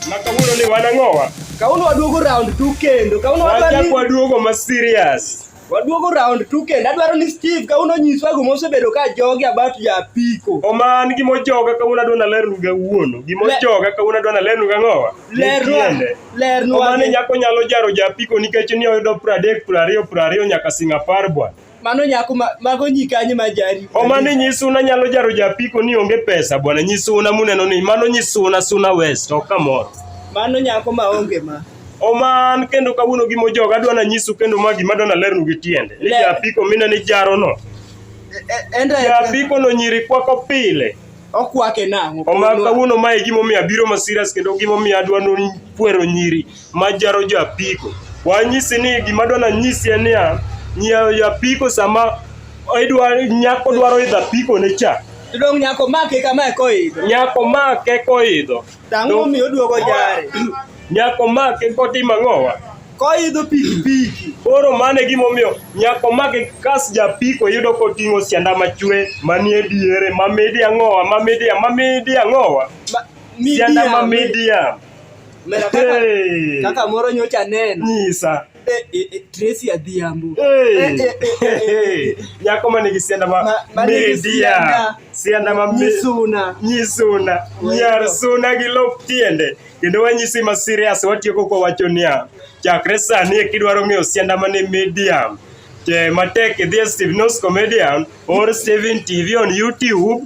Makawuono ni wan ang'owa? Kawuono waduogo round two kendo. Kawuono waduogo. Waduogo ma serious. Waduogo round two kendo. Adwaro ni Steve kawuono nyiswa gima osebedo ka jogi about ja apiko. Oman gima ojoga kawuono adwa nalernu ga wuono. Gima ojoga kawuono adwa nalernu ga ng'owa. Lerwa. Lerwa. Oman nyako nyalo jaro ja apiko nikech ni oyudo 30 20 20 nyaka sing apar bwana. Mano nyako ma, mago nyikanye ma jari. O mano nyisuna nyalo jaro japiko ni onge pesa bwana nyisuna muneno ni mano nyisuna suna west ok kamoro. Mano nyako ma onge ma. Oman kendo kawuono gi mojoga adwa na nyisu kendo ma gima adwa nalernu gi tiende ni Le- japiko mine ni jaro no E- Enda japiko no nyiri kwako pile okwake nang'o? Oman kawuono mae gimomiyo abiro masiras kendo gimomiyo adwa no kwero nyiri majaro jo apiko. Wanyisi ni gima dwana nyisi en niya, nyiewo jo apiko sama idwa nyako dwaro idho apiko ne cha. Dong nyako make kama koidho. Nyako make koidho. Tang'o mi oduogo jare. Nyako make kotimo ang'owa. Koidho pikipiki. Koro mano e gimomiyo nyako make kas japiko yudo koting'o sianda machwe manie diere mamidi ang'owa mamidi mamidi ang'owa. Sianda mamidi ya. Mera kaka, Hey. kaka moro nyocha neno Nyisa. eh, eh, eh, Tracy Adhiambo Hey. Eh, eh, eh, eh, Hey. eh. Nyako ma nigi sianda ma Ma- ma nigi media. sianda. Sianda ma me- Nyisuna nyisuna Wendo. nyar suna gi lop tiende kendo wanyisi ma serious watieko kwa wacho niya chakre sani e kidwaro ng'eyo sianda mane medium te matek idhi e steve nos comedian or steven tv on youtube